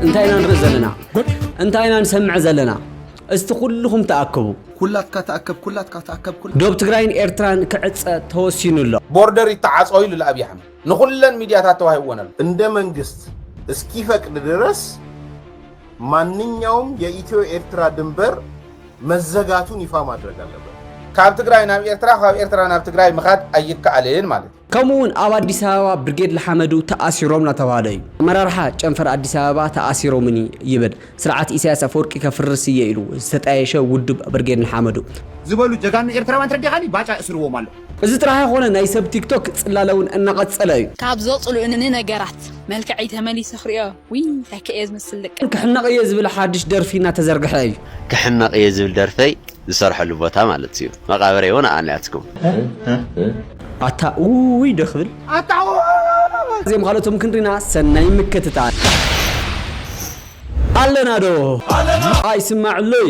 እንታይ ኢና ንርኢ ዘለና እንታይ ኢና ንሰምዕ ዘለና እስቲ ኩልኹም ተኣከቡ ኩላትካ ተኣከብ ኩላትካ ተኣከብ ዶብ ትግራይን ኤርትራን ክዕፀ ተወሲኑ ኣሎ ቦርደር ይተዓፀ ኢሉ ኣብዪ ኣሕመድ ንኹለን ሚድያታት ተዋሂብወን ኣሎ እንደ መንግስት እስኪፈቅድ ድረስ ማንኛውም የኢትዮ ኤርትራ ድንበር መዘጋቱን ይፋ ማድረግ ኣለበት። ካብ ትግራይ ናብ ኤርትራ ካብ ኤርትራ ናብ ትግራይ ምኻድ ኣይከኣልን ማለት እዩ። ከምኡ እውን ኣብ ኣዲስ ኣበባ ብርጌድ ልሓመዱ ተኣሲሮም እናተባህለ እዩ። ኣመራርሓ ጨንፈር ኣዲስ ኣበባ ተኣሲሮምኒ ይብል። ስርዓት ኢሳያስ ኣፈወርቂ ከፍርስ እየ ኢሉ ዝተጣየሸ ውድብ ብርጌድ ንሓመዱ። ዝበሉ ጀጋኑ ኤርትራውያን ተረዲኻኒ ባጫ የእስርዎም ኣሎ። እዚ ጥራሕ ኣይኮነን ናይ ሰብ ቲክቶክ ፅላለ እውን እናቐፀለ እዩ። ካብ ዘፅሉእንኒ ነገራት መልክዐይ ተመሊሰ ክሪኦ ውይ እንታይ ከ እየ ዝመስል ደቂ። ክሕነቕ እየ ዝብል ሓድሽ ደርፊ እናተዘርግሐ እዩ። ክሕነቕ እየ ዝብል ደርፈይ ዝሰርሐሉ ቦታ ማለት እዩ መቓብረይ እውን ኣኣ ናትኩም። ኣታ ኡይ ዶ ክብል ኣታ ኡይ። እዚኦም ካልኦቶም ክንሪና ሰናይ ምክትታል። ኣለና ዶ ኣይስማዕ እሎይ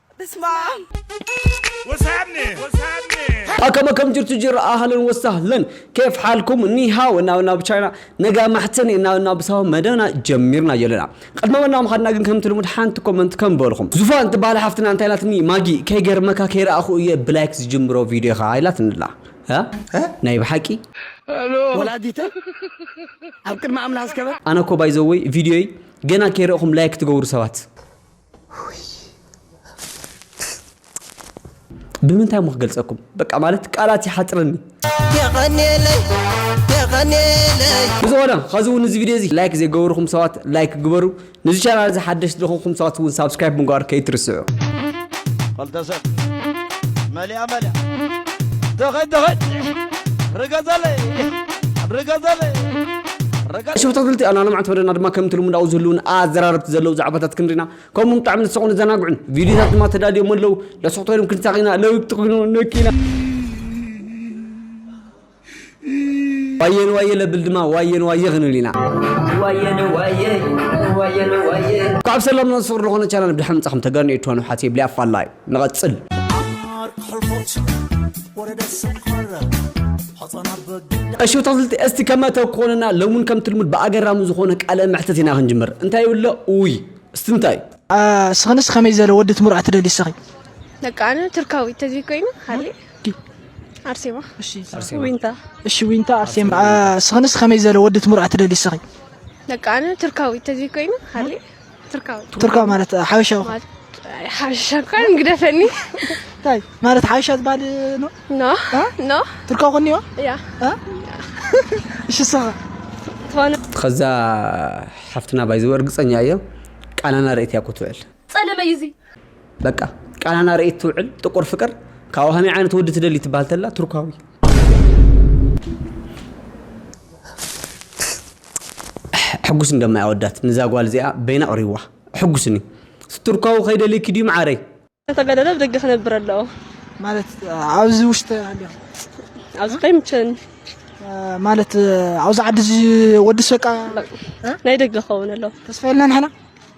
ኣከመ ከም ጅርቱ ጅራ ኣህለን ወሳህለን ኬፍ ሓልኩም ኒሃው እና ናብ ቻይና ነጋ ማሕተኒ እና እና ብሳው መደብና ጀሚርና ጀለና ቅድመ መና ምኻድና ግን ከምቲ ልሙድ ሓንቲ ኮመንት ከም በልኹም ዙፋን ትበሃል ሓፍትና እንታይ ኢላትኒ ማጊ ከይገርመካ ከይረኣኹ እየ ብላይክ ዝጅምሮ ቪድዮ ኢኻ ኢላትኒ ኣላ እ? ናይ ብሓቂ ወላዲተይ ኣብ ቅድሚ ኣምላኽ ዝከበር ኣነ እኮ ባይዘወይ ቪድዮይ ገና ከይረእኹም ላይክ ትገብሩ ሰባት ብምንታይ እሞ ክገልጸኩም በቃ ማለት ቃላት ይሓጽረኒ የቐኔለይ የቐኔለይ ብዝኾነ ኸዚ እውን እዚ ቪድዮ እዚ ላይክ ዘይገበርኹም ሰባት ላይክ ግበሩ ንዚ ቻናል እዚ ሓደሽቲ ዝኾንኩም ሰባት እውን ሳብስክራይብ ምግባር ከይትርስዑ ኸልተ ሰብ መሊኣ መሊኣ ተኸድ ተኸድ ርገዘለይ ርገዘለይ ሽብ ተክልቲ ኣና ልምዓት መደና ድማ ከምቲ ልሙድ ኣብኡ ዝህልውን ኣዘራረብቲ ዘለዉ ዛዕባታት ክንሪና ከምኡ ብጣዕሚ ዝስቑን ዘናግዑን ቪድዮታት ድማ ተዳልዮም ኣለዉ ለስኽቶ ኢሎም ክንሳቂና ለውቲ ኮይኑ ነኪና ዋየ ንዋየ ለብል ድማ ዋየ ንዋየ ክንብል ኢና ካብ ሰላም ናብ ፍቅሪ ዝኾነ ቻናል ብድሓን ምጻኹም ተጋኑ ኤርትራኑ ሓትየ ብሊኣፋላይ ንቐጽል። እሺ ተኽልቲ እስቲ ከመ ተኮንና ሎምን ከምቲ ልሙድ ብኣገራሚ ዝኾነ ቃለ መሕተት ኢና ክንጅምር እንታይ ይብሎ ኡይ እስቲ እንታይ ስኽንስ ከመይ ዘለ ወዲ ትምርዖ ትደሊ ስኺ ደቂ ኣነ ትርካዊ ተዚ ኮይኑ ሃሊ ኣርሴማ ዊንታ እሺ ዊንታ ኣርሴማ ስኽንስ ከመይ ዘለ ወዲ ትምርዖ ትደሊ ስኺ ደቂ ኣነ ትርካዊ ተዚ ኮይኑ ሃሊ ቱርካዊ ማለት ሓበሻዊ ሓበሻ እኳ እንግደፈኒ እንታይ ማለት ሓበሻ ዝበሃል ኖ ኖ ኖ ቱርካዊ ኮኒዋ እያ እሺ ሰኸ ከዛ ሓፍትና ባይዘው እርግፀኛ እየ ቃናና ርእት እያ ክትውዕል ፀለመ እዩ እዚ በቃ ቃናና ርእት ትውዕል ጥቁር ፍቅር ካብኡ ከመይ ዓይነት ወዲ ትደሊ ትበሃል ተላ ቱርካዊ ኣሕ ሕጉስ እንዶ ማይ ኣወዳት ንዛ ጓል እዚኣ በይና ኣቅሪብዋ ኣሕጉስኒ ስትርኳዊ ከይደልይኪ ድዩ ማዓረይ። ከተገደደ ብደገ ክነብር ኣለዎ ማለት ኣብዚ ውሽጢ ኣለኹ ኣብዚ ከይምቸኒ ማለት ኣብዚ ዓዲ እዚ ወድስ በቃ ናይ ደገ ክኸውን ኣለዎ ተስፋ የልና ንሕና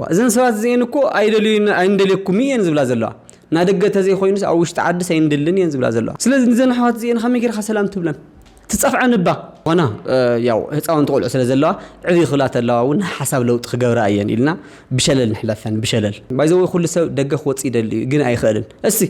ዋእ እዘን ሰባት እዚኤን እኮ ኣይደልዩን ኣይንደልየኩምን እየን ዝብላ ዘለዋ ናይ ደገ ተዘይ ኮይኑስ ኣብ ውሽጢ ዓድስ ኣይንድልን እየን ዝብላ ዘለዋ ስለዚ ንዘን ኣሕዋት እዚኤን ከመይ ጌርካ ሰላም ትብለን ትጸፍዐን እባ ኮና ያው ህጻውንቲ ቆልዑ ስለ ዘለዋ ዕብይ ክብላ ተለዋ እውን ናይ ሓሳብ ለውጢ ክገብራ እየን ኢልና ብሸለል ንሕለፈን ብሸለል ባይዘወይ ኩሉ ሰብ ደገ ክወጽእ ይደሊ እዩ ግን ኣይኽእልን እሲ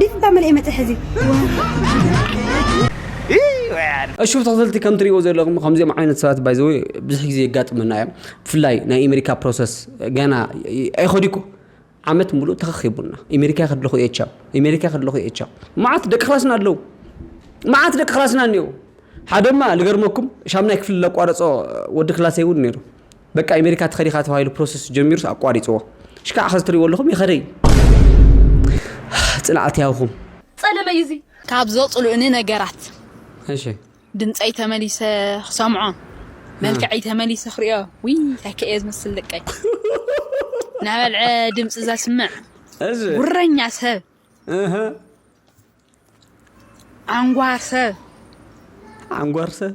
ዲት ታመልኤ መተሐዚ እሹፍ ተኸተልቲ ከም ትሪእዎ ዘለኹም ከምዚኦም ዓይነት ሰባት ባይዘወ ብዙሕ ግዜ የጋጥመና እዮም ብፍላይ ናይ ኣሜሪካ ፕሮሰስ ገና ኣይኸዲኩ ዓመት ሙሉእ ተኸኺቡና ኣሜሪካ ከድለኹ እየ ቻው ኣሜሪካ ከድለኹ እየ ቻው መዓት ደቂ ክላስና ኣለዉ መዓት ደቂ ክላስና እኒኦ ሓደማ ልገርመኩም ሻምናይ ክፍሊ ለቋረፆ ወዲ ክላሰይ እውን ነይሩ በቃ ኣሜሪካ ትኸድ ኢኻ ተባሂሉ ፕሮሰስ ጀሚሩስ ኣቋሪፅዎ ሽካዕ ኸዚ ትሪእዎ ኣለኹም ይኸደ እዩ ፅንዓት ያውኹም ፀለመ እዩ እዚ ካብ ዘፅሉእኒ ነገራት እሺ ድምፀይ ተመሊሰ ክሰምዖ መልክዐይ ተመሊሰ ክሪኦ ውይ እንታይ ከ እየ ዝመስል ደቀይ ናበልዐ ድምፂ ዘስምዕ እዚ ጉረኛ ሰብ እህ ዓንጓር ሰብ ዓንጓር ሰብ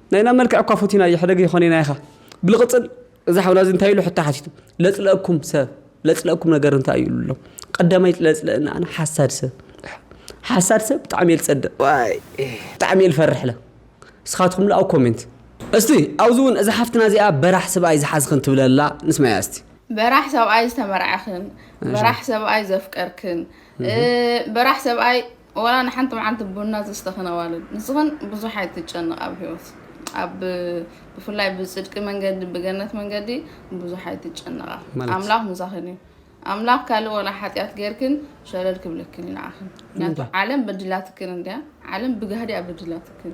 ናይና መልክዕ እኳ ፉቲናዮ ሕደገ ይኾኔና ኢኻ ብልቕጽል እዚ ሓውና እዚ እንታይ ኢሉ ሕቶ ሓቲቱ ለጽለእኩም ሰብ ለጽለእኩም ነገር እንታይ እዩ ኢሉ ቀዳማይ ለጽለእና ኣነ ሓሳድ ሰብ ሓሳድ ሰብ ብጣዕሚ እየ ዝጸድቕ ብጣዕሚ እየ ዝፈርሕለ ንስኻትኩም ላ ኣብ ኮሜንት እስቲ ኣብዚ እውን እዛ ሓፍትና እዚኣ በራሕ ስብኣይ ዝሓዝኽን ትብለላ ንስማያ እስቲ በራሕ ሰብኣይ ዝተመርዐኽን በራሕ ሰብኣይ ዘፍቀርክን በራሕ ሰብኣይ ወላ ንሓንቲ መዓልቲ ቡና ዘስተኽን ኣዋልድ ንስኽን ብዙሕ ኣይትጨነቓ ኣብ ሂወት ኣብ ብፍላይ ብጽድቂ መንገዲ ብገነት መንገዲ ብዙሕ ኣይትጨነቓ ማለት ኣምላኽ ምሳኽን እዩ ኣምላኽ ካልእ ወላ ሓጢኣት ጌርክን ሸለል ክብለክን እዩ ንዓኽን ምክንያቱ ዓለም በዲላትክን እንድያ ዓለም ብጋህዲ እያ በዲላትክን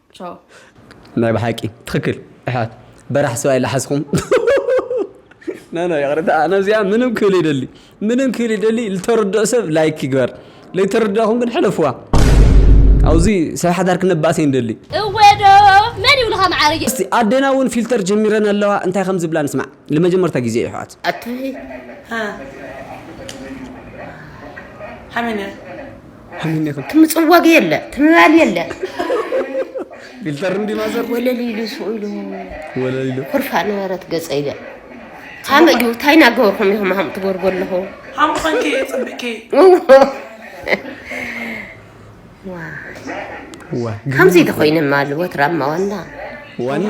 ቻው። ናይ ብሓቂ ትክክል ኣሕዋት በራሕ ሰብኣይ ላሓስኹም ኖኖ ይቅርታ ኣነ ኣብዚኣ ምንም ክብል ይደሊ ምንም ክብል ይደሊ ልተርድኦ ሰብ ላይክ ይግበር ለይተረዳኹም ግን ሕለፍዋ ኣብዚ ሰብ ሓዳር ክነባእሰ ይንደሊ እወዶ መን ይብሉኻ መዓርጌ እስቲ ኣዴና እውን ፊልተር ጀሚረን ኣለዋ እንታይ ከም ዝብላ ንስማዕ ንመጀመርታ ግዜ እዩ ኣሕዋት ኣታይ ሃ ሃመነ ሕምኝኽም ትም ጽዋግ የለ ትምባል የለ ፊልተር እንዲ ማዘር ወለል ኢሉ ስኡ ኢሉ ወለል ኢሉ ኩርፋ ነበረት ገጸ ኢለ ካመ እዩ እንታይ ናገበርኩም ኢኹም ሃም ትጎርጎ ኣለኹ ሃምኸንኪ ጽብቂ ከምዚ ተኮይነ ማል ወትራማ ዋና ዋና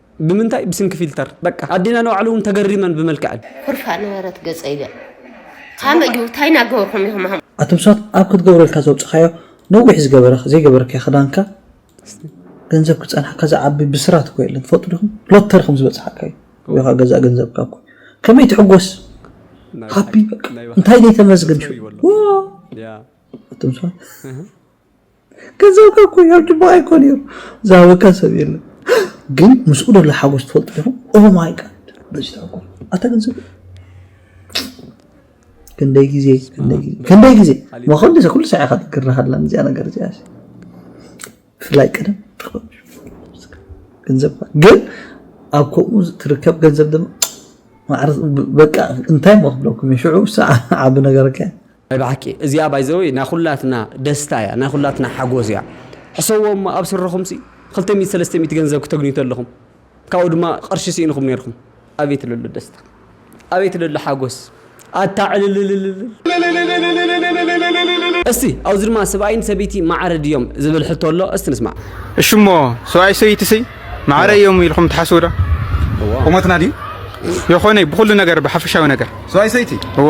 ብምንታይ ብስንኪ ፊልተር በቃ ኣዴና ንባዕሉ እውን ተገሪመን ብመልክዐን። ኩርፋእ ነበረት ገጸይ በል ካምእ ድዩ ታይ ናገበርኩም ኢኩም ሃም። ኣቱም ሰባት ኣብ ክትገብረልካ ዘውጻኻዮ ነዊሕ ዝገበረ ዘይገበርካዮ ክዳንካ ገንዘብ ክጸንሓካ ዝዓቢ ብስራት እኮ የለን ትፈልጡ ዲኹም ሎተሪ ከም ዝበጽሓካ እዩ ወይኻ ገዛእ ገንዘብካ እኮ ከመይ ትሕጎስ ሃፒ በቃ እንታይ ዘይተመዝግን ሽው ዋው ኣቱም ሰባት ገንዘብካ እኮ እዩ ሕጂ ብኣይ እኮ ነይሩ ዝሃበካ ሰብ የለን ግን ምስኡ ዘሎ ሓጎስ ትፈልጡ ዲኹም ኦ ማይ ጋድ በዚ ተዓጎል ኣታ ገንዘብ ክንደይ ግዜ ክንደይ ግዜ ወኸንዲ ኩሉ ሳዕ ኢኻ ትግርና ከላ እዚኣ ነገር እዚኣ ብፍላይ ቀደም ገንዘብ ግን ኣብ ከምኡ ትርከብ ገንዘብ ድማ ማዕረ በቃ እንታይ ሞ ክብለኩም ሽዑ ሳዕ ዓቢ ነገርካ ናይ ብሓቂ እዚኣ ባይ ዘ ወይ ናይ ኩላትና ደስታ እያ ናይ ኩላትና ሓጎስ እያ ሕሰዎ እሞ ኣብ ስርኹም ሲ ክልተ ሚእቲ ሰለስተ ሚእቲ ገንዘብ ክተግንዩ ተለኹም ካብኡ ድማ ቅርሺ ስኢንኹም ነይርኩም ኣቤት ለሎ ደስታ ኣቤት ለሎ ሓጎስ ኣታ ዕልልልልልል እስቲ ኣብዚ ድማ ሰብኣይን ሰበይቲ ማዕረ ድዮም ዝብል ሕቶ ኣሎ እስቲ ንስማዕ እሺ እሞ ሰብኣይ ሰበይቲ ሲ ማዕረ እዮም ኢልኩም ትሓስቡ ዶ ቁመትና ድዩ የኾነ ብኩሉ ነገር ብሓፈሻዊ ነገር ሰብኣይ ሰይቲ እዎ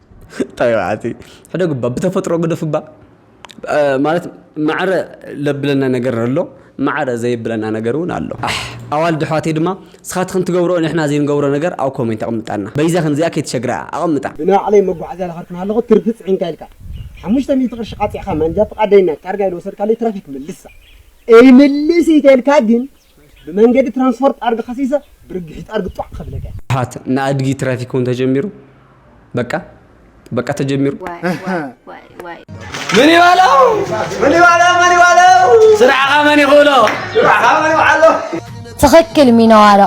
ታይ በዓቲ ሕደግ እባ ብተፈጥሮ ግደፍ እባ ማለት ማዕረ ለብለና ነገር ኣሎ ማዕረ ዘይብለና ነገር እውን ኣሎ ኣሕ ኣዋልድ ኣሕዋተይ ድማ ስኻትኽን ትገብሮ ንሕና ዘይንገብሮ ነገር ኣብ ኮሜንት ኣቕምጣልና በይዛኽን እዚኣ ከይትሸግራ ኣቕምጣ። ብናዕለይ መጓዓዝያ ዝኸድክን ኣለኹ ትርፊ ፅዒንካ ኢልካ ሓሙሽተ ሚእቲ ቅርሺ ቃፂዕኻ ማንጃ ፍቃደይና ታርጋ ኢሉ ወሰድካለይ ትራፊክ መልሳ እይምልስ እይተልካ ግን ብመንገዲ ትራንስፖርት ኣድጊ ከሲሰ ብርግሒት ኣድጊ ጧዕ ከብለካ ፓት ንኣድጊ ትራፊክ እውን ተጀሚሩ በቃ በቃ ተጀሚሩ ምን ይበለው ምን ይበለው ምን ይበለው ስራዕኻ መን ይኽእሎ ስራዕኻ መን ይውዓሎ ትኽክል ሚነዋሎ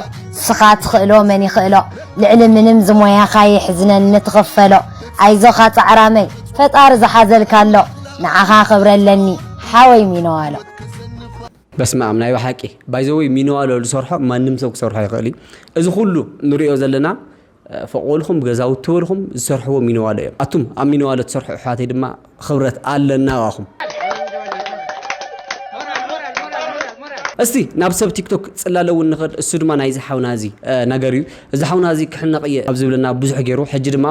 ስኻ ትኽእሎ መን ይኽእሎ ልዕሊ ምንም ዝሞያኻ የሕዝነን ንትኽፈሎ ኣይዞኻ ጻዕራመይ ፈጣሪ ዝሓዘልካ ኣሎ ንዓኻ ክብረ ኣለኒ ሓወይ ሚነዋሎ በስመኣም ናይ በሓቂ ባይዘወይ ሚንዋሎ ዝሰርሖ ማንም ሰብ ክሰርሖ ይኽእል እዩ እዚ ኩሉ ንሪኦ ዘለና ፎቅ በልኩም ገዛውቲ በልኩም ዝሰርሕዎ ሚንዋሎ እዮም ኣቱም ኣብ ሚንዋሎ ትሰርሑ ኣሕዋተይ ድማ ክብረት ኣለና ዋኹም እስቲ ናብ ሰብ ቲክቶክ ጽላለ እውን ንኸድ እሱ ድማ ናይዚ ሓውና እዚ ነገር እዩ እዚ ሓውና እዚ ክሕነቕ እየ ኣብ ዝብለና ብዙሕ ገይሩ ሕጂ ድማ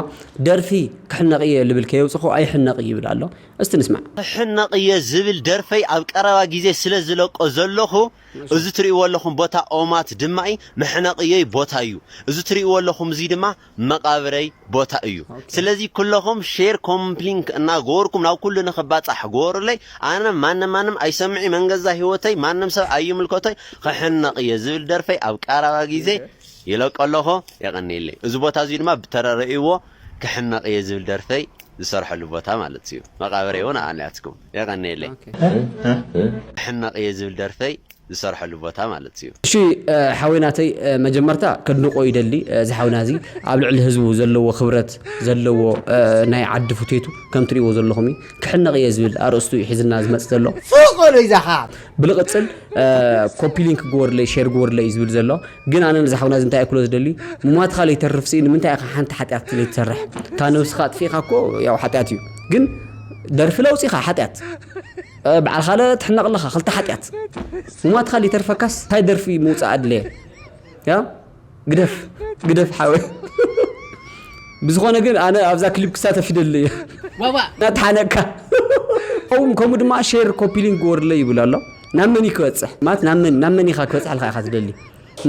ደርፊ ክሕነቕ እየ ልብል ከየውፅኹ ኣይሕነቕ ይብል ኣሎ እስቲ ንስማዕ። ክሕነቕ እየ ዝብል ደርፈይ ኣብ ቀረባ ግዜ ስለ ዝለቆ ዘለኹ እዚ ትርእይዎ ኣለኹም ቦታ ኦማት ድማኢ መሕነቕየይ ቦታ እዩ እዚ ትርእይዎ ኣለኹም እዚ ድማ መቓብረይ ቦታ እዩ ስለዚ ኩለኹም ሼር ኮምፕሊንክ እና ገበርኩም ናብ ኩሉ ንኽባጻሕ ገበሩለይ ኣነ ማንም ማንም ኣይሰምዒ መንገዛ ህይወተይ ማንም ሰብ ኣይምልከቶይ ክሕነቕ እየ ዝብል ደርፈይ ኣብ ቀረባ ግዜ ይለቆ ኣለኹ የቐንየለይ እዚ ቦታ እዚ ድማ ብተረርእይዎ ክሕመቅ እየ ዝብል ደርፈይ ዝሰርሐሉ ቦታ ማለት እዩ መቃብረይ እውን ኣኣ ናትኩም የቀንየለይ። ክሕመቅ እየ ዝብል ደርፈይ ዝሰርሐሉ ቦታ ማለት እዩ። እሺ ሓወይ ናተይ መጀመርታ ከድንቆ ይደሊ እዚ ሓውና እዚ ኣብ ልዕሊ ህዝቡ ዘለዎ ክብረት ዘለዎ ናይ ዓዲ ፉቴቱ ከም ትሪእዎ ዘለኹም እዩ ክሕነቅ እየ ዝብል ኣርእስቱ እዩ ሒዝልና ዝመጽእ ዘሎ ፉቅ በሎ ይዛኻ። ብልቅጽል ኮፒ ሊንክ ግበሩለይ ሼር ግበሩለይ እዩ ዝብል ዘሎ። ግን ኣነ ነዚ ሓውና እዚ እንታይ እክሎ ዝደሊ ምሟትኻ ለይተርፍ ሲ ንምንታይ ኢኻ ሓንቲ ሓጢኣት ለይትሰርሕ ካብ ነብስኻ ኣጥፊእኻ እኮ ያው ሓጢኣት እዩ ግን ደርፊ ለውፂኻ ሓጢኣት በዓል ካለ ትሕነቕ ኣለኻ ክልተ ሓጢኣት ምሟትኻ ለይተርፈካስ እንታይ ደርፊ ምውፃእ ኣድለየ ያ ግደፍ ግደፍ ሓወ ብዝኾነ ግን ኣነ ኣብዛ ክሊፕ ክሳተፍ ይደሊ እየ ናተሓነቅካ ከምኡ ድማ ሼር ኮፒሊንግ ወርለ ይብል ኣሎ ናብ መን እዩ ክበጽሕ ማለት ናብ መን ናብ መን ኢኻ ክበጽሕ ኢልካ ኢኻ ትደሊ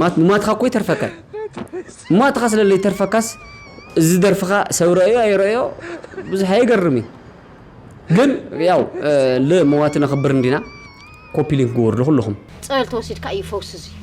ማለት ንማትኻ እኮ ይተርፈካ ማትኻ ስለ ዘይተርፈካስ እዚ ደርፍኻ ሰብ ረእዮ ኣይረእዮ ብዙሕ ኣይገርም እዩ ግን ያው ልመዋቲ ነኽብር እንዲና ኮፒ ሊንክ ግበሩ ኩልኹም ጸበል ተወሲድካ እዩ ፈውሲ እዚ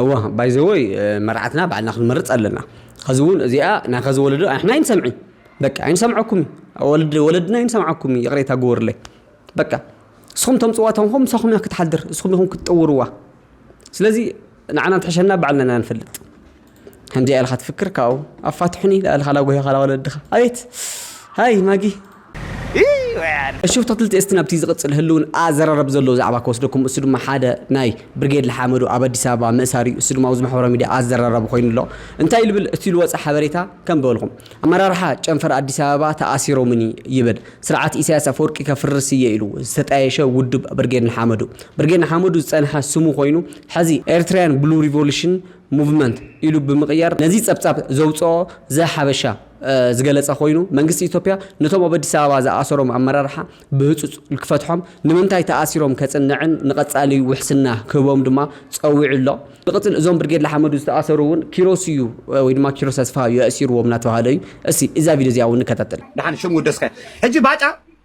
እወ ባይዘወይ መርዓትና ባዕልና ክንመርፅ ኣለና ኸዚ እውን እዚኣ ናይ ኸዚ ወለዶ ኣሕና ኣይንሰምዒ በቃ ኣይንሰምዐኩም ወለድ ወለድና ኣይንሰምዓኩም ይቕሬታ ግበሩለይ በቃ እስኹም ተምፅዋ ተንኹም ምሳኹም እያ ክትሓድር እስኹም ኢኹም ክትጥውርዋ ስለዚ ንዓና እንትሕሸና ባዕልና ኢና ንፈልጥ ከምዚኣ ኢልካ ትፍክር ካብኡ ኣፋትሑኒ ዳእልካ ላጎሂኻ ላወለድኻ ኣቤት ሃይ ማጊ እሹ ተክልቲ እስቲ ናብቲ ዝቕጽል ህልውን ኣዘራረብ ዘለዎ ዛዕባ ክወስደኩም እሱ ድማ ሓደ ናይ ብርጌድ ልሓመዱ ኣብ ኣዲስ ኣበባ ምእሳር እዩ እሱ ድማ ኣብዚ ማሕበራዊ ሚድያ ኣዘራራቢ ኮይኑ ኣሎ እንታይ ልብል እቲ ዝወፀ ሓበሬታ ከም በልኹም ኣመራርሓ ጨንፈር ኣዲስ ኣበባ ተኣሲሮምኒ ይብል ስርዓት ኢሳያስ ኣፈወርቂ ከፍርስ እየ ኢሉ ዝተጣየሸ ውድብ ብርጌድ ንሓመዱ ብርጌድ ንሓመዱ ዝጸንሐ ስሙ ኮይኑ ሐዚ ኤርትራያን ብሉ ሪቮሉሽን ሙቭመንት ኢሉ ብምቕያር ነዚ ጸብጻብ ዘውጽኦ ዘ-ሓበሻ ዝገለጸ ኮይኑ መንግስቲ ኢትዮጵያ ነቶም ኣብ ኣዲስ ኣበባ ዝኣሰሮም ኣመራርሓ ብህጹጽ ክፈትሖም ንምንታይ ተኣሲሮም ከጽንዕን ንቐጻሊ ውሕስና ክህቦም ድማ ጸዊዑ ኣሎ። ብቅጽል እዞም ብርጌድ ልሓመዱ ዝተኣሰሩ እውን ኪሮስ እዩ ወይ ድማ ኪሮስ ተስፋ እዩ ኣእሲርዎም እናተባህለ እዩ። እስቲ እዛ ቪድዮ እዚኣ እውን ንከታተል። ድሓን ሽም ውደስካ ሕጂ ባጫ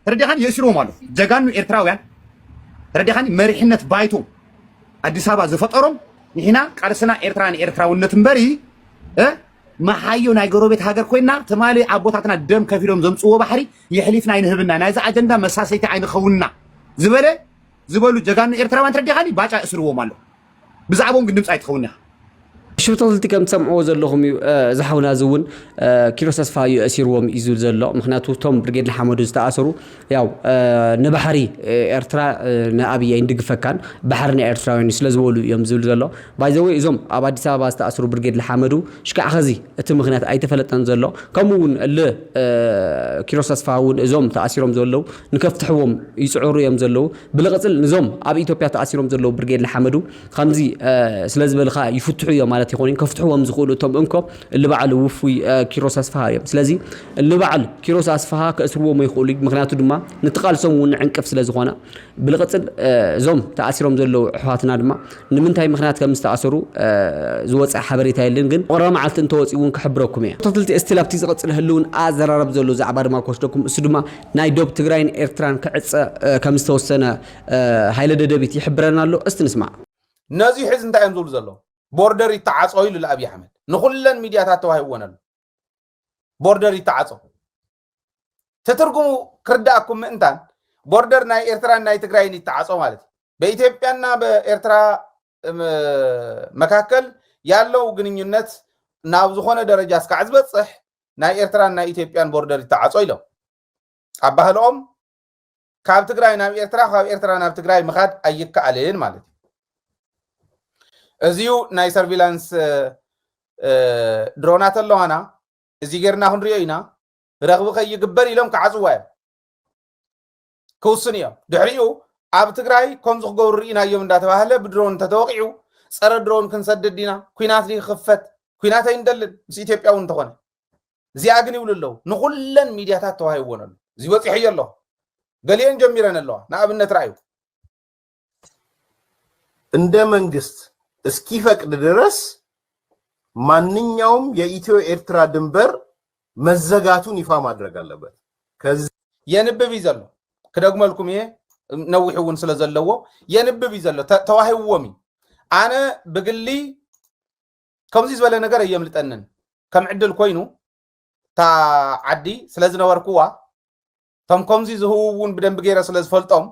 ተረዲኻኒ የእሲርዎም ኣሎ ጀጋኑ ኤርትራውያን ተረዲኻኒ መሪሕነት ባይቶ ኣዲስ ኣበባ ዝፈጠሮም ንሕና ቃልስና ኤርትራ ንኤርትራውነት እምበሪ መሓዮ ናይ ጎረቤት ሃገር ኮይና ትማሊ ኣቦታትና ደም ከፊሎም ዘምፅዎ ባሕሪ የሕሊፍና ኣይንህብና ናይዚ ኣጀንዳ መሳሰይቲ ኣይንኸውንና ዝበለ ዝበሉ ጀጋኑ ኤርትራውያን ተረዲኻኒ ባጫ የእስርዎም ኣሎ ብዛዕብኦም ግን ድምፂ ኣይትኸውን ኢኻ። ሽርተልቲ ከም ትሰምዕዎ ዘለኹም እዩ እዚ ሓውና እዚ እውን ኪሮስ ተስፋ እዩ እሲርዎም እዩ ዝብል ዘሎ ምክንያቱ እቶም ብርጌድ ንሓመዱ ዝተኣሰሩ ያው ንባሕሪ ኤርትራ ንኣብይ ኣይንድግፈካን ባሕሪ ናይ ኤርትራውያን ስለ ዝበሉ እዮም ዝብል ዘሎ ባይዘወይ እዞም ኣብ ኣዲስ ኣበባ ዝተኣሰሩ ብርጌድ ንሓመዱ ሽካዕ ኸዚ እቲ ምክንያት ኣይተፈለጠን ዘሎ ከምኡ እውን ል ኪሮስ ተስፋ እውን እዞም ተኣሲሮም ዘለዉ ንከፍትሕዎም ይጽዕሩ እዮም ዘለዉ ብልቕጽል ንዞም ኣብ ኢትዮጵያ ተኣሲሮም ዘለዉ ብርጌድ ንሓመዱ ከምዚ ስለ ዝበልኻ ይፍትሑ እዮም ማለት ይኾን ከፍትሕዎም ዝኽእሉ እቶም እንኮ እልበዓል ውፉይ ኪሮስ ኣስፍሃ እዮም ስለዚ እልበዓል ኪሮስ ኣስፍሃ ከእስርዎም ይኽእሉ ምክንያቱ ድማ ንትቓልሶም እውን ዕንቅፍ ስለ ዝኾነ ብልቕጽል እዞም ተኣሲሮም ዘለዉ ኣሕዋትና ድማ ንምንታይ ምክንያት ከም ዝተኣሰሩ ዝወፀ ሓበሬታ የለን ግን ቁረ መዓልቲ እንተወፂኡ እውን ክሕብረኩም እየ ተክልቲ እስቲል ኣብቲ ዝቕፅል ህልውን ኣዘራረብ ዘሎ ዛዕባ ድማ ክወስደኩም እሱ ድማ ናይ ዶብ ትግራይን ኤርትራን ክዕጸ ከም ዝተወሰነ ሃይለ ደደቢት ይሕብረና ኣሎ እስቲ ንስማዕ። ነዙይ ሕዚ እንታይ እዮም ዝብሉ ዘለዉ ቦርደር ይተዓጾ ኢሉ ኣብይ ኣሕመድ ንኩለን ሚድያታት ተዋሂብወን ኣሎ ቦርደር ይተዓጾ ትትርጉሙ ክርዳኣኩም ምእንታን ቦርደር ናይ ኤርትራን ናይ ትግራይን ይተዓጾ ማለት እዩ በኢትዮጵያና በኤርትራ መካከል ያለው ግንኙነት ናብ ዝኾነ ደረጃ እስካዕ ዝበፅሕ ናይ ኤርትራን ናይ ኢትዮጵያን ቦርደር ይተዓፆ ኢሎም ኣብ ባህልኦም ካብ ትግራይ ናብ ኤርትራ ካብ ኤርትራ ናብ ትግራይ ምኻድ ኣይከኣልን ማለት እዩ እዚዩ ናይ ሰርቪላንስ ድሮናት ኣለዋና እዚ ጌርና ክንሪኦ ኢና ረኽቢ ከይግበር ኢሎም ክዓፅዋ እዮም ክውስኑ እዮም ድሕሪኡ ኣብ ትግራይ ከምዚ ክገብሩ ርኢናዮም እንዳተባህለ ብድሮን እንተተወቂዑ ፀረ ድሮን ክንሰድድ ዲና ኩናት ዲ ክኽፈት ኩናት ኣይንደልን ምስ ኢትዮጵያ እውን እንተኾነ እዚኣ ግን ይብሉ ኣለዉ ንኩለን ሚድያታት ተዋሂብዎን ኣሎ እዚ በፂሖዮ ኣለኹ ገሊአን ጀሚረን ኣለዋ ንኣብነት ረኣዩ እንደ መንግስት እስኪፈቅድ ድረስ ማንኛውም የኢትዮ ኤርትራ ድንበር መዘጋቱን ይፋ ማድረግ ኣለበት ከዚ የንብብ እዩ ዘሎ ክደግመልኩም እየ ነዊሕ እውን ስለ ዘለዎ የንብብ እዩ ዘሎ ተ- ተዋሂብዎም እዩ ኣነ ብግሊ ከምዚ ዝበለ ነገር ኣየምልጠንን ከም ዕድል ኮይኑ እታ ዓዲ ስለ ዝነበርኩዋ እቶም ከምዚ ዝህቡ እውን ብደንቢ ገይረ ስለ ዝፈልጦም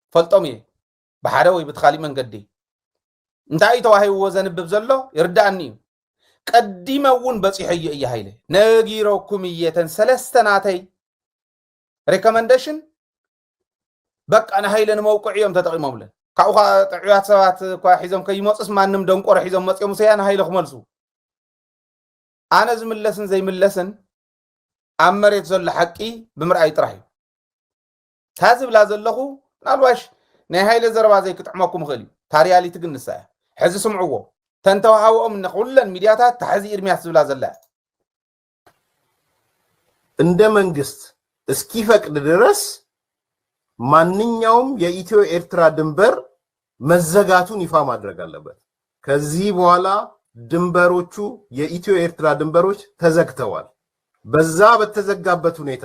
እፈልጦም እየ ብሓደ ወይ ብትኻሊእ መንገዲ እንታይ እዩ ተዋሂብዎ ዘንብብ ዘሎ ይርዳእኒ እዩ ቀዲመ እውን በፂሖዮ እየ ሃይለ ነጊረኩም እየ ተን ሰለስተ ናተይ ሬኮመንዴሽን በቃ ንሃይለ ንመውቅዒ እዮም ተጠቂሞምለን ካብኡ ከዓ ጥዑያት ሰባት እኳ ሒዞም ከይመፁስ ማንም ደንቆሮ ሒዞም መፅኦም ሰያ ንሃይለ ክመልሱ ኣነ ዝምለስን ዘይምለስን ኣብ መሬት ዘሎ ሓቂ ብምርኣይ ጥራሕ እዩ እታ ዝብላ ዘለኹ ምናልባሽ ናይ ሃይለ ዘረባ ዘይክጥዕመኩም ይኽእል እዩ እታ ሪያሊቲ ግን ንሳ እያ ሕዚ ስምዕዎ ተንተዋሃወኦም ንኩለን ሚድያታት እታ ሕዚ ኢርሚያስ ዝብላ ዘላ እያ እንደ መንግስት እስኪፈቅድ ድረስ ማንኛውም የኢትዮ ኤርትራ ድንበር መዘጋቱን ይፋ ማድረግ አለበት። ከዚህ በኋላ ድንበሮቹ የኢትዮ ኤርትራ ድንበሮች ተዘግተዋል። በዛ በተዘጋበት ሁኔታ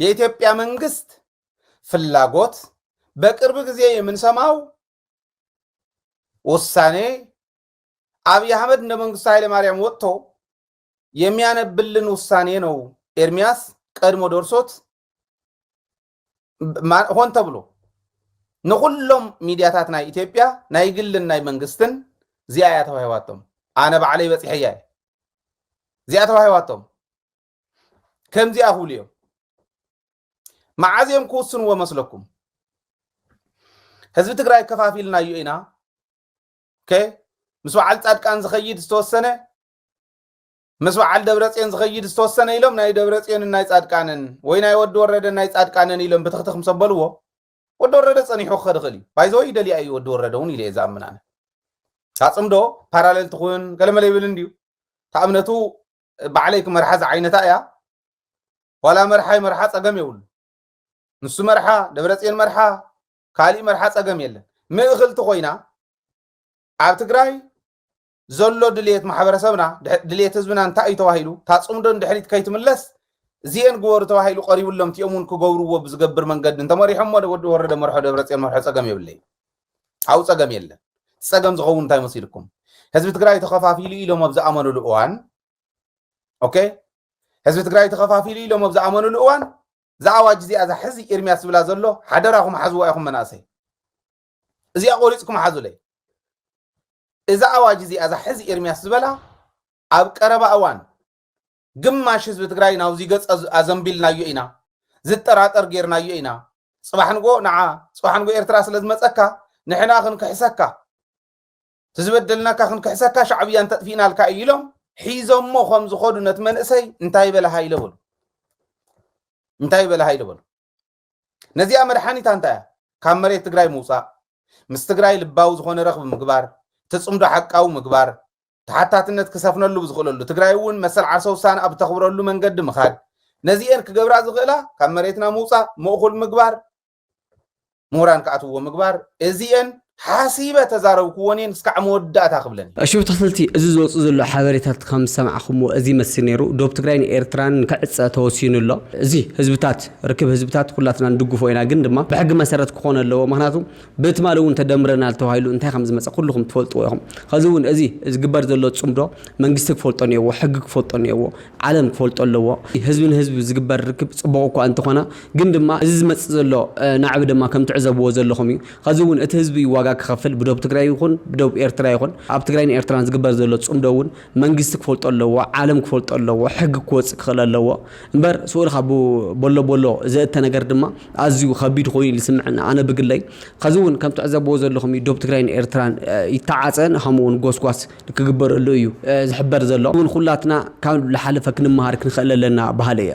የኢትዮጵያ መንግስት ፍላጎት በቅርብ ጊዜ የምንሰማው ውሳኔ አብይ አህመድ እንደ መንግስቱ ኃይለማርያም ወጥቶ የሚያነብልን ውሳኔ ነው። ኤርሚያስ ቀድሞ ደርሶት ሆን ተብሎ ንኩሎም ሚዲያታት ናይ ኢትዮጵያ ናይ ግልን ናይ መንግስትን እዚኣ እያ ተዋሂባቶም። ኣነ ባዕለይ በፂሐያ እዚኣ ተዋሂባቶም። ከምዚኣ ክብሉ እዮም መዓዝ እዮም ክውስንዎ መስለኩም ህዝቢ ትግራይ ከፋፊልናዮ ኢና ምስ በዓል ፃድቃን ዝኸይድ ዝተወሰነ ምስ በዓል ደብረፅዮን ዝኸይድ ዝተወሰነ ኢሎም ናይ ደብረፅዮንን ናይ ፃድቃንን ወይ ናይ ወዲ ወረደን ናይ ፃድቃንን ኢሎም ብትኽትኽ ምስ ኣበልዎ ወዲ ወረደ ፀኒሑ ክኸድ ይኽእል እዩ ባይዘወ ይደልያ እዩ ወዲ ወረደ እውን ኢለ እየ ዝኣምናነ ኣፅምዶ ፓራሌል ትኹን ገለመለ ይብል እንድዩ ተኣምነቱ ባዕለይ ክመርሓ ዝዓይነታ እያ ዋላ መርሓይ መርሓ ፀገም የብሉ ንሱ መርሓ ደብረፅዮን መርሓ ካሊእ መርሓ ፀገም የለን ምእኽልቲ ኮይና ኣብ ትግራይ ዘሎ ድልየት ማሕበረሰብና ድልየት ህዝብና እንታይ እዩ ተባሂሉ እታ ፅምዶ ንድሕሪት ከይትምለስ እዚአን ግበሩ ተባሂሉ ቀሪብሎም እቲኦም እውን ክገብርዎ ብዝገብር መንገዲ እንተመሪሖሞ ወዲ ወረደ መርሖ ደብረፅዮን መርሖ ፀገም የብለይ ኣብኡ ፀገም የለን። እቲ ፀገም ዝኸውን እንታይ መሲልኩም ህዝቢ ትግራይ ተኸፋፊሉ ኢሎም ኣብ ዝኣመኑሉ እዋን ኦኬ ህዝቢ ትግራይ ተኸፋፊሉ ኢሎም ኣብ ዝኣመኑሉ እዋን እዛ ኣዋጅ እዚኣ እዛ ሕዚ ኤርሚያስ ዝብላ ዘሎ ሓደራኹም ሓዝዋ ኢኹም መናእሰይ እዚኣ ቆሪፅኩም ሓዙለይ እዛ ኣዋጅ እዚኣ እዛ ሕዚ ኤርሚያስ ዝበላ ኣብ ቀረባ እዋን ግማሽ ህዝቢ ትግራይ ናብዚ ገፅ ኣዘንቢልናዮ ኢና፣ ዝጠራጠር ገይርናዮ ኢና፣ ፅባሕ ንግሆ ንዓ ፅባሕ ንግሆ ኤርትራ ስለዝመፀካ ንሕና ክንክሕሰካ ትዝበደልናካ ክንክሕሰካ ሻዕብያ እንተጥፊእናልካ እዩ ኢሎም ሒዞሞ ከም ዝኸዱ ነቲ መንእሰይ እንታይ በለ ሃይለ በሉ እንታይ በለ ሃይለ በሉ ነዚኣ መድሓኒታ እንታይ እያ ካብ መሬት ትግራይ ምውፃእ ምስ ትግራይ ልባዊ ዝኾነ ረኽቢ ምግባር ትፅምዶ ሓቃዊ ምግባር ተሓታትነት ክሰፍነሉ ብዝኽእለሉ ትግራይ እውን መሰል ዓርሰ ውሳነ ኣብ ተኽብረሉ መንገዲ ምኻድ ነዚኤን ክገብራ ዝኽእላ ካብ መሬትና ምውፃእ ምእኹል ምግባር ምሁራን ክኣትውዎ ምግባር እዚኤን ሓሲበ ተዛረብክዎን እየ እስካዕ መወዳእታ ክብለን እየ። እሺ ብትክልቲ እዚ ዝወጽእ ዘሎ ሓበሬታት ከም ዝሰማዕክምዎ እዚ ይመስል ነይሩ ዶብ ትግራይን ኤርትራን ንክዕጸ ተወሲኑ ኣሎ እዚ ህዝብታት ርክብ ህዝብታት ኩላትና ንድግፎ ኢና ግን ድማ ብሕጊ መሰረት ክኮን ኣለዎ ምክንያቱ ብትማሊ ውን ተደምረናል ተባሂሉ እንታይ ከም ዝመጸ ኩልኩም ትፈልጥዎ ኢኩም ከዚ ውን እዚ ዝግበር ዘሎ ጽምዶ መንግስቲ ክፈልጦ ኔዎ ሕጊ ክፈልጦ ኔዎ ዓለም ክፈልጦ ኣለዎ ህዝቢ ንህዝቢ ዝግበር ርክብ ጽቡቅ እኳ እንተኮነ ግን ድማ እዚ ዝመጽእ ዘሎ ናዕቢ ድማ ከም ትዕዘብዎ ዘለኩም እዩ ኸዚ እውን እቲ ህዝቢ እዩ ዋጋ ክኸፍል ብዶብ ትግራይ ይኹን ብዶብ ኤርትራ ይኹን ኣብ ትግራይን ኤርትራን ዝግበር ዘሎ ፅምዶ እውን መንግስቲ ክፈልጦ ኣለዎ ዓለም ክፈልጦ ኣለዎ ሕጊ ክወፅእ ክኽእል ኣለዎ እምበር ስኡል ካብ ቦሎ ቦሎ ዘእተ ነገር ድማ ኣዝዩ ኸቢድ ኾይኑ እዩ ዝስምዐኒ ኣነ ብግለይ ኸዚ እውን ከም ትዕዘብዎ ዘለኹም እዩ ዶብ ትግራይን ኤርትራን ይተዓፀ ከምኡ እውን ጎስጓስ ክግበረሉ እዩ ዝሕበር ዘሎ እውን ኹላትና ካብ ልሓለፈ ክንመሃር ክንኽእል ኣለና በሃሊ እየ።